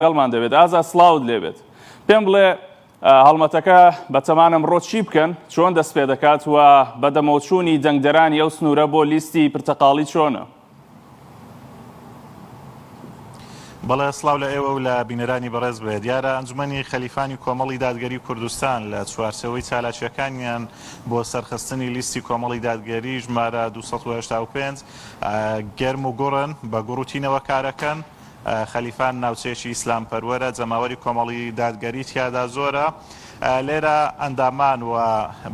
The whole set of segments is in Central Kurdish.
لەگەڵمان دەبێت. ئازا سڵاوت لێ بێت. پێم بڵێ هەڵمەتەکە بە تەمان ئەمڕۆ چی بکەن، چۆن دەست پێ دەکات و بەدەمەوەچوونی دەنگدەرانی ئەو سنوورە بۆ لیستی پرتەقاڵی چۆنە؟ بەڵێ، سڵاو لە ئێوە و لە بینەرانی بەڕێز بێت. دیارە ئەنجومەنی خەلیفانی کۆمەڵی دادگەری کوردستان لە چوارچێوەی چالاکییەکانیان بۆ سەرخستنی لیستی کۆمەڵی دادگەری ژمارە دوو سەد و هەشتا و پێنج گەرم و گوڕن، بە گوڕ و تینەوە کارەکەن. خەلیفان ناوچەیەکی ئیسلامپەروەرە، جەماوەری کۆمەڵی دادگەری تیادا زۆرە، لێرە ئەندامان و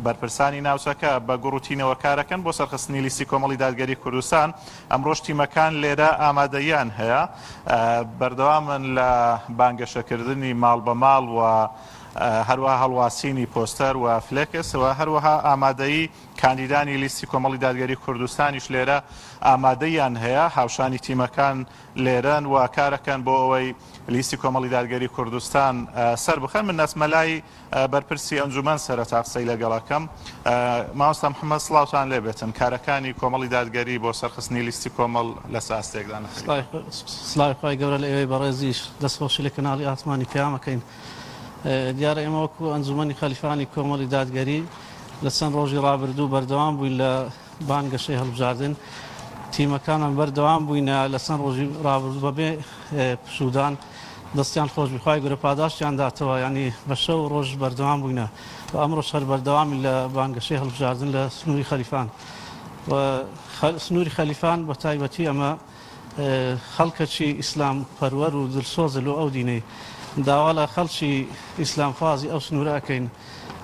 بەرپرسانی ناوچەکە بە گوڕ و تینەوە کارەکەن بۆ سەرخستنی لیستی کۆمەڵی دادگەری کوردستان، ئەمڕۆش تیمەکان لێرە ئامادەییان هەیە، بەردەوامن لە بانگەشەکردنی ماڵ بە ماڵ و هەروەها هەڵواسینی پۆستەر و فلێکس و هەروەها ئامادەیی. کاندیدانی لیستی کۆمەڵی دادگەری کوردستانیش لێرە ئامادەییان هەیە، هاوشانی تیمەکان لێرەن و کارەکەن بۆ ئەوەی لیستی کۆمەڵی دادگەری کوردستان سەربخەن. من دەچمە لای بەرپرسی ئەنجومەن سەرەتا قسەی لەگەڵ ئەکەم. مامۆستا محەمەد سڵاوتان لێ بێتن. کارەکانی کۆمەڵی دادگەری بۆ سەرخستنی لیستی کۆمەڵ لە چ ئاستێکدان؟ سڵاوی خوای گەورە لە ئێوەی بەڕێزیش. دەستخۆشی لە کەناڵی ئاسمانی پەیام ئەکەین. دیارە ئێمە وەکو ئەنجومەنی خەلیفانی کۆمەڵی دادگەری لە چەند ڕۆژی ڕابردوو بەردەوام بووین لە بانگەشەی هەڵبژاردن تیمەکانمان بەردەوام بووینە لە چەند ڕۆژی ڕابردوو بەبێ پشودان دەستیان خۆشبخوای گورە پاداشتیان داتەوە ینی بە شەو ڕۆژ بەردەوام بووینە و ئەمڕۆ شەر بەردەوامی لە بانگەشەی هەڵبژاردن لە سنووری خەلیفان سنووری خەلیفان بە تایبەتی ئەمە خەڵکەکی ئیسلام پەروەر و دلسۆزە لۆ ئەو دینەی داوا لە خەڵکی ئیسلام خوازی ئەو سنورە ئەکەین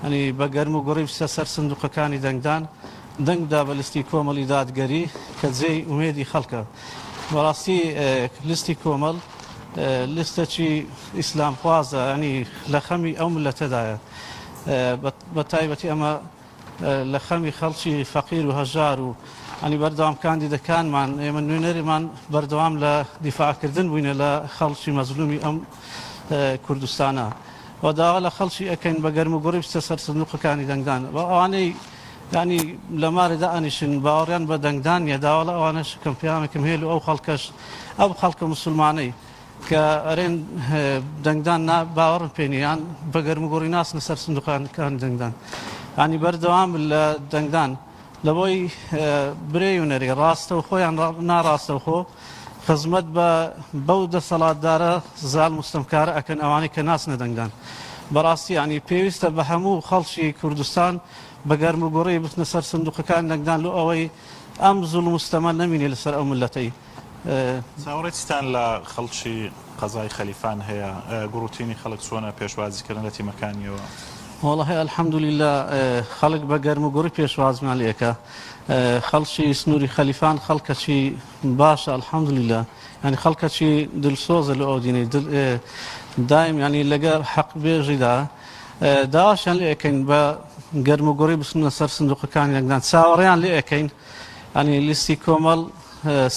ئەنی بە گەرم و گوڕی بچتە سەر سندوقەکانی دەنگدان دەنگ بدا بە لستی کۆمەڵی دادگەری کە جێی ئومێدی خەڵکە بەڕاستی لستی کۆمەڵ لستەکی ئیسلام خوازە ئەنی لە خەمی ئەو ملەتەدایە بە تایبەتی ئەمە لە خەمی خەڵکی فەقیر و هەژار و انی بەردەوام کاندیدەکانمان ئێمە نوێنەرمان بەردەوام لە دیفاعکردن بووینە لە خەڵکی مەزلومی ئەم کوردستانە و داوا لە خەڵکی ئەکەین بە گەرم و گوڕی بچە سەر سندوقەکانی دەنگدان بە ئەوانەی ینی لە مارێدا ئەنیشن باوەڕیان بە دەنگدان یە داوا لە ئەوانەش کەم پیامێکم هێل و ئەو خەڵکەش ئەو خەڵکە مسلمانەی کە ئەرێن دەنگدان نا باوەڕم پێ نیە یان بە گەرموگوڕی ناچنە سەر سندوقانەکانی دەنگدان یانی بەردەوام لە دەنگدان لەبۆی برێی و نەرێ ڕاستە و خۆیان ناڕاستە و خۆ خزمەت بە بەو دەسەڵاتدارە زال مستەمکارە ئەکەن ئەوانەی کە ناچنە دەنگدان بەڕاستی ینی پێویستە بە هەموو خەڵکی کوردستان بە گەرم و گوڕی بچنە سەر سندوقەکان دەنگدان لۆ ئەوەی ئەم زول مستەمە نەمینێ لەسەر ئەو ملەتەی چاوەڕێی چیتان لە خەڵکی قەزای خەلیفان هەیە؟ گوڕوتینی خەڵک چۆنە پێشوازیکردن لە تیمەکانیەوە؟ وەڵاهی الحمدللە خەڵک بە گەرم و گوڕی پێشوازمان لێکە خەڵکی سنووری خەلیفان خەڵکەچی باشە الحمدللە ینی خەڵکەچی دلسۆزە لە ئەودینەی دایم ینی لەگەر حەق بێژیدا داشان لێکەین بە گەرم و گوڕی بسنە سەر سندوقەکان یەکدان چاوەڕیان لێکەین یانی لیستی کۆمەڵ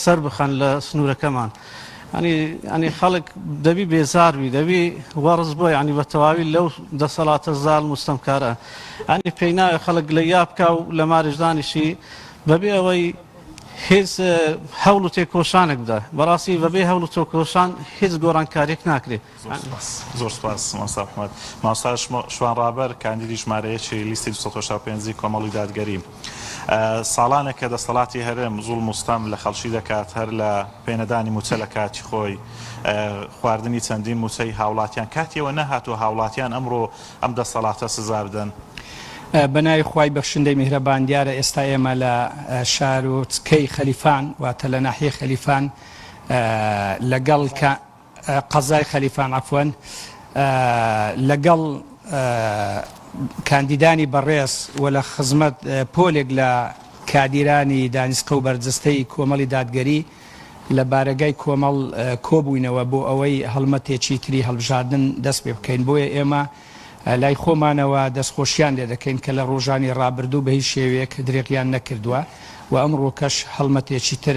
سەربخەن لە سنورەکەمان یانی یانی خەڵک دەبی بێزاربی دەبی وەڕز بۆ یانی بە تەواوی لەو دەسەڵاتە زال مستەمکارە ئەنی پێی ناوێ خەڵک لە یابکە و لە مارشدانیشی بەبێ ئەوەی هیچ هەوڵ و تێکۆشانێک بدە بەڕاستی بەبێ هەوڵ و تۆکۆشان هیچ گۆڕانکاریێک ناکرێت زۆر سوپاس زۆر سوپاس مامۆستا محمەد. مامۆستا شوان ڕابەر کاندیدی ژمارە یەکی لیستی دوو سەد و هەشتا و پێنج ی کۆمەڵی دادگەری. ساڵانێکە دەستەڵاتی هەرێم زوڵم و ستەم لە خەڵکی دەکات هەر لە پێنەدانی مووچە لە کاتی خۆی، خواردنی چەندین مووچەی هاوڵاتیان کاتی ئەوە نەهاتووە هاوڵاتیان ئەمڕۆ ئەم دەستەڵاتە سزا بدەن. بە ناوی خوای بەخشندەی میهرەبان دیارە ئێستا ئێمە لە شارۆچکەی خەلیفان واتە لە ناحیەی خەلیفان لەگەڵ. قەزای خەلیفان عەفوەن لەگەڵ کاندیدانی بەڕێز و لە خزمەت پۆلێک لە کادیرانی دانیسقە و بەرجستەی کۆمەڵی دادگەری لە بارەگای کۆمەڵ کۆبووینەوە بۆ ئەوەی هەڵمەتێکی تری هەڵبژاردن دەست پێ بکەین بۆیە ئێمە لای خۆمانەوە دەستخۆشیان لێ دەکەین کە لە ڕۆژانی ڕابردوو بە هیچ شێوەیەک درێغیان نەکردووە و ئەمڕۆکەش هەڵمەتێکی تر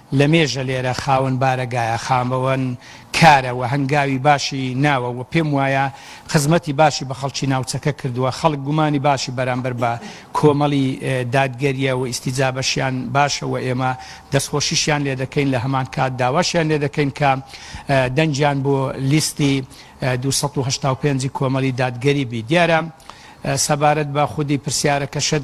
لەمێژە لێرە خاوەن بارەگایە، خاوەن کارە و هەنگاوی باشی ناوە و پێم وایە خزمەتی باشی بە خەڵکی ناوچەکە کردووە، خەڵک گومانی باشی بەرامبەر بە کۆمەڵی دادگەرییە و ئیستیجابەشیان باشە و ئێمە دەستخۆشیشیان لێ دەکەین، لە هەمان کات داواشیان لێ دەکەین کە دەنگیان بۆ لیستی دوو سەد و هەشتا و پێنج کۆمەڵی دادگەری بی. دیارە سەبارەت بە خودی پرسیارەکەشت،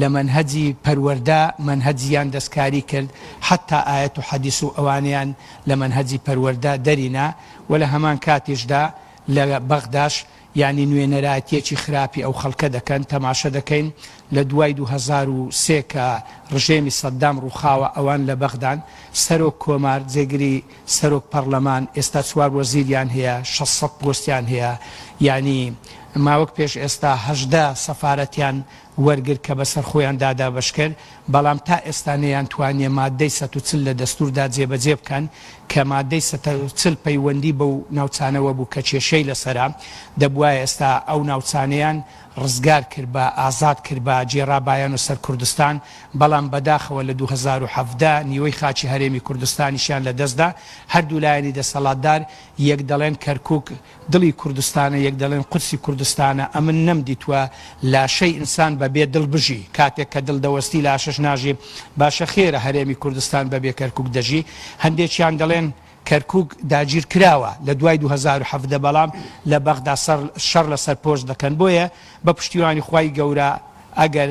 لە مەنهەجی پەروەردە مەنهەج یان دەستکاری کرد حەتا ئایەت و حەدیس و ئەوانەیان لە مەنهەجی پەروەردە دەری نا و لە هەمان کاتیشدا لە بەغداش یانی نوێنەرایەتیەکی خراپی ئەو خەڵکە دەکەن تەماشە دەکەین لە دوای دوو هەزار و سێ کە ڕژێمی سەدام ڕوخاوە ئەوان لە بەغدان سەرۆک کۆمار جێگری سەرۆک پەڕلەمان ئێستا چوار وەزیریان هەیە شەش سەد پۆستیان هەیە یانی ماوەک پێش ئێستا هەژدە سەفارەتیان وەرگر کە بەسەر خۆیان دا دابەشکرد، بەڵام تا ئێستا نەیانتوانییە ماددەی سەد و چل لە دەستووردا جێبەجێ بکەن، کە ماددەی سەد و چل پەیوەندی بەو ناوچانەوە بوو کە کێشەی لەسەرە، دەبوایە ئێستا ئەو ناوچانەیان ڕزگار کربا، ئازاد کربا، گێڕابایانە سەر کوردستان، بەڵام بەداخەوە لە دوو هەزار و حەڤدە نیوەی خاکی هەرێمی کوردستانیشیان لەدەستدا، هەردوو لایەنی دەسەڵاتدار یەک دەڵێن کەرکووک، دڵی کوردستانە یەک دەڵێن قورسی کوردستانە ئەمن نەم دیتوە لاشەی ئینسان بە بێ دڵ بژی کاتێک کە دڵ دەوەستی لاشەش ناژی باشە خێرە هەرێمی کوردستان بە بێ کەرکوک دەژی هەندێکیان دەڵێن کەرکوک داگیر کراوە لە دوای دوو هەزار و حەڤدە بەڵام لە بەغدا شەڕ لەسەر پۆست دەکەن بۆیە بە پشتیوانی خوای گەورە ئەگەر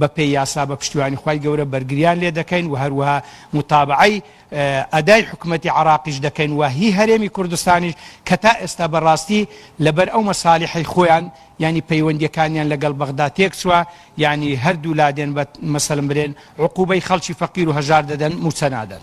بە پێی یاسا بە پشتیوانی خوای گەورە بەرگریان لێ دەکەین و هەروەها موتابەعەی ئەدای حکومەتی عەراقیش دەکەین و هی هەرێمی کوردستانیش کە تا ئێستا بە ڕاستی لە بەر ئەو مەسالیحەی خۆیان یانی پەیوەندیەکانیان لە گەڵ بەغدا تێک چوە یانی هەردوو لا دێن بە مەسەلم برێن عقوبەی خەڵکی فەقیر و هەژار دەدەن موچە نادەن.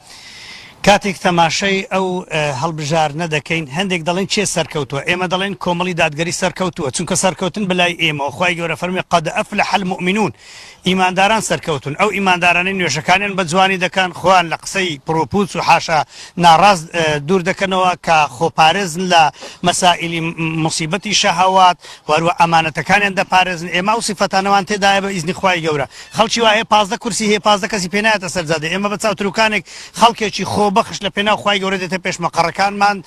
کاتێک تەماشای ئەو هەڵبژارنە دەکەین هەندێک دەڵێن کێ سەرکەوتوە ئێمە دەڵێن کۆمەڵی دادگەری سەرکەوتووە چونکە سەرکەوتن بەلای ئێمەوە خوای گەورە فەرمی قەد ئەفلح المؤمنون ئیمانداران سەرکەوتون ئەو ئیماندارانی نوێژەکانیان بە جوانی دەکەن خۆیان لە قسەی پڕوپوچ و حاشا ناڕاست دوور دەکەنەوە کە خۆپارێزن لە مەسائلی مصیبەتی شەهوات وەروە ئەمانەتەکانیان دەپارێزن ئێمە و سفەتانەوان تێدایە بە ئیزنی خوای گەورە خەڵکی وا هەیە پازدە کورسی هەیە پازدە کەسی پێ نایەتە سەر جادە ئێمە بە چاوتروکانێک خەڵکێکی خۆبەخش لە پێناو خوای گەورە دێتە پێش مەقەڕەکانمان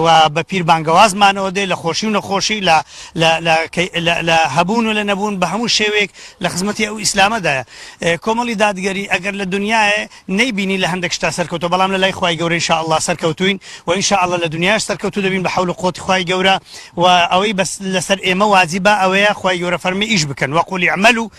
و بە پیر بانگەوازمانەوە دێ لە خۆشی و نەخۆشی لە لە هەبوون و لە نەبوون بە هەموو شێوێک لە خزمەتی ئەو ئیسلامەدایە کۆمەڵی دادگەری ئەگەر لە دنیاە نەیبینی لە هەندێک شتا سەرکەوتە بەڵام لە لای خوای گەورەی شاءله سەرکەوتوین و ان شاءله لە دنیاش سەرکەوتو دەبین بە حول و قوتی خوای گەورە و ئەوەی بەس لەسەر ئێمە واجبە ئەوەیە خوای گەورە فەرمی ئیش بکەن وەقولی عمل و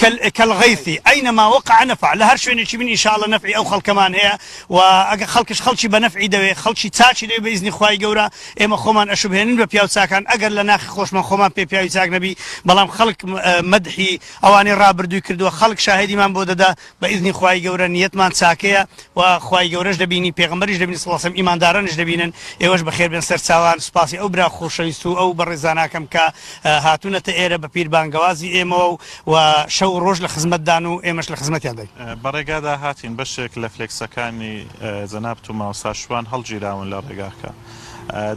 کل کل غیثی این ما وقع نفع لە هەر شوێنێکی بن ان شاء اللە نەفعی ئەو خەڵکەمان هەیە و ئەگەر خەڵکش خەڵکی بە نەفعی دەوێ خەڵکی چاکی دەوێ بە ئیزنی خوای گەورە ئێمە خۆمان ئەشوبهێنین بە پیاو چاکان ئەگەر لە ناخی خۆشمان خۆمان پێ پیاوی چاک نەبی بەڵام خەڵک مەدحی ئەوانەی ڕابردووی کردووە خەڵک شاهێدیمان بۆ دەدا بە ئیزنی خوای گەورە نیەتمان چاکەیە وە خوای گەورەش دەبینی پێغەمبەریش دەبینی صلی اللە علیە و سلم ئیماندارانیش دەبینن ئێوەش بەخێر بێن سەرچاوان سوپاسی ئەو برا خۆشەویست و ئەو بەڕێزاناکەم کە هاتونەتە ئێرە بەپیر بانگەوازی ئێمەوە و و شەو و ڕۆژ لە خزمەتدان و ئێمەش لە خزمەتیان بین. بە ڕێگادا هاتین بەشێک لە فلێکسەکانی جەنابت و مامۆستا شوان هەڵگیراون لە ڕێگاکە.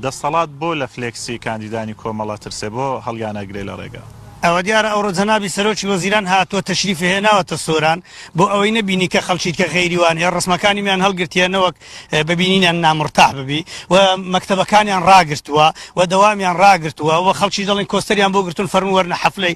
دەستەڵات بۆ لە فلێکسی کاندیدانی کۆمەڵ ئەترسێ بۆ هەڵیان ئەگرێ لە ڕێگا؟ ئەوە دیارە ئەوڕۆ جەنابی سەرۆکی وەزیران هاتووە تەشریفی هێناوەتە سۆران بۆ ئەوەی نەبینی کە خەڵکیت کە غەیری وان هەیە ڕسمەکانیمیان هەڵگرتیە نەوەک بە بینینیان نامرتاح ببی و مەکتەبەکانیان ڕاگرتووە و دەوامیان ڕاگرتووە و خەڵکی دەڵێن کۆستەریان بۆ گرتوون فەرموو وەرنە حەفلەی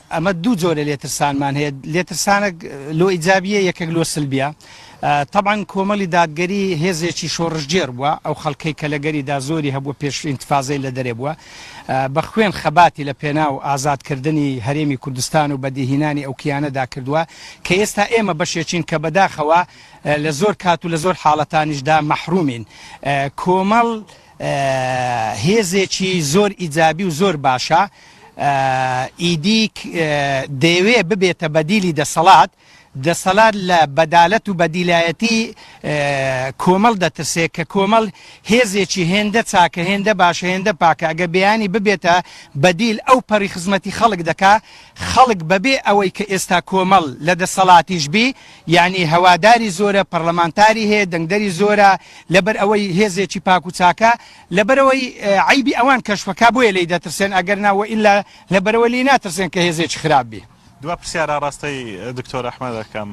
ئەمە دوو جۆرە لێترسانمان هەیە لێترسانەک لۆ ئیجابیە یەکێک لۆ سلبیە طبعاً کۆمەڵی دادگەری هێزێکی شۆڕشگێر بووە ئەو خەڵکەی کە لە گەریدا زۆری هەبوو پێش ئینتفازەی لە دەرێ بووە بە خوێن خەباتی لە پێناو ئازادکردنی هەرێمی کوردستان و بەدیهینانی ئەو کیانەدا کردووە کە ئێستا ئێمە بەشێکین کە بەداخەوە لە زۆر کات و لە زۆر حاڵەتانیشدا مەحرومین کۆمەڵ هێزێکی زۆر ئیجابی و زۆر باشە ئیدیک دەیەوێ ببێتە بەدیلی دەسەڵات دەسەلات لە بەدالەت و بەدیلایەتی کۆمەڵ دەترسێ کە کۆمەڵ هێزێکی هێندە چاکە هێندە باشە هێندە پاکە ئەگە بیانی ببێتە بەدیل ئەو پەڕی خزمەتی خەڵک دەکا خەڵک بەبێ ئەوەی کە ئێستا کۆمەڵ لە دەسەڵاتیش بی یانی هەواداری زۆرە، پەڕلەمانتاری هەیە، دەنگدەری زۆرە، لەبەر ئەوەی هێزێکی پاک و چاکە، لەبەرئەوەی عەیبی ئەوان کەشفەکا بۆیە لێی دەترسێن ئەگەرنا وەئیلا لەبەرئەوە لێی ناترسێن کە هێزێکی خراپ بی. دوا پرسیار ئاڕاستەی دکتۆر ئەحمەد ئەکەم،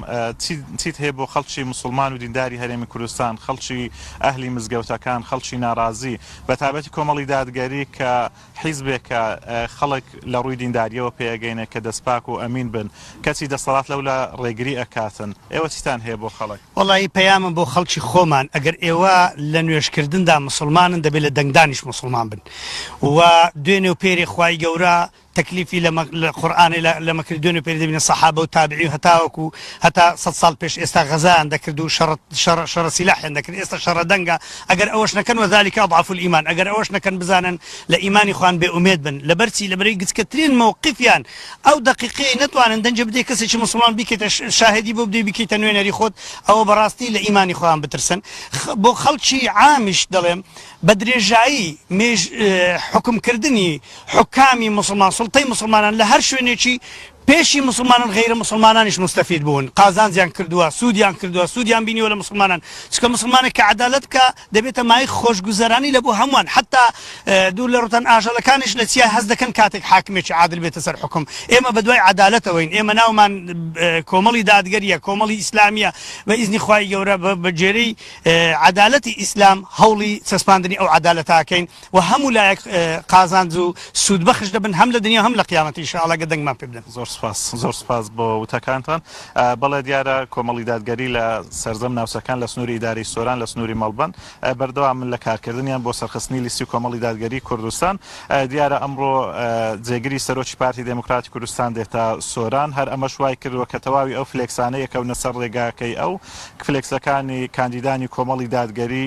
چیت هەیە بۆ خەڵکی موسڵمان و دینداری هەرێمی کوردستان، خەڵکی ئەهلی مزگەوتەکان، خەڵکی ناڕازی، بەتایبەتی کۆمەڵی دادگەری کە، حیزبێک کە خەڵک لە ڕووی دینداریەوە پێ ئەگەینێ کە دەست پاک و ئەمین بن کەچی دەستەڵات لەولا ڕێگری ئەکاتن ئێوە چیتان هەیە بۆ خەڵک؟ وەڵایی پەیامم بۆ خەڵکی خۆمان ئەگەر ئێوە لە نوێژ کردندا موسڵمانن دەبێ لە دەنگدانیش موسڵمان بن و دوێنێ و پێرێ خوای گەورە تەکلیفی لە قورئانێ لەمە کرد دوێنێ پێرێ دەبینە سەحابە و تابعی و هەتاوەکو هەتا سەد ساڵ پێش ئێستا غەزایان دەکرد و شەڕ شەڕ شەڕ سیلاحیان دەکرد ئێستا شەڕە دەنگە ئەگەر ئەوەش نەکەن وذلک اضعف الایمان ئەگەر ئەوەش نەکەن بزانن لە ئیمانی خۆیان بێ ئومێد بن لەبەر چی لەبەرەی گچکەترین مەوقیفیان ئەو دەقیقەی نەتوانن دەنگێ بدەی کەسێکی موسڵمان بیکەیتە شاهێدی بۆ بدەی بیکەیتە نوێنەری خۆت ئەوە بەڕاستی لە ئیمانی خۆیان بترسن بۆ خەڵکی عامیش دەڵێم بە درێژایی مێژ حوکم کردنی حوکامی موسڵمان سوڵتەی موسڵمانان لە هەر شوێنێکی پێشی موسڵمانان غەیرە موسڵمانانیش موستەفید بوون قازانجیان کردووە سوودیان کردووە سوودیان بینیوە لە موسڵمانان چونکە موسڵمانێک کە عەدالەت بکا دەبێتە مایەی خۆشگوزەرانی لە بۆ هەمووان حەتتا دوور لە ڕووتان ئاژەڵەکانیش لە چیا هەست دەکەن کاتێک حاکمێکی عادل بێتە سەر حوکم ئێمە بە دوای عەدالەتەوەین ئێمە ناومان کۆمەڵی دادگەریە کۆمەڵی ئیسلامیە بە ئیزنی خوای گەورە بە بەگێرەی عەدالەتی ئیسلام هەوڵی چەسپاندنی ئەو عەدالەتاکەین وە هەموو لایەک قازانج و سود بەخش دەبن هەم لە دنیا هەم لە قیامەت ان شاءاللە گەر دەنگمان پێ بدەن. زۆر سوپاس زۆر سوپاس بۆ وتەکانتان بەڵێ دیارە کۆمەڵی دادگەری لە سەرجەم ناوچەکان لە سنوری ئیدارەی سۆران لە سنوری مەڵبەند بەردەوامن لە کارکردنیان بۆ سەرخستنی لیستی کۆمەڵی دادگەری کوردستان دیارە ئەمڕۆ جێگری سەرۆکی پارتی دێموکراتی کوردستان دێتە سۆران هەر ئەمەش وای کردوە کە تەواوی ئەو فلێکسانە یەکەونە سەر ڕێگاکەی ئەو فلێکسەکانی کاندیدانی کۆمەڵی دادگەری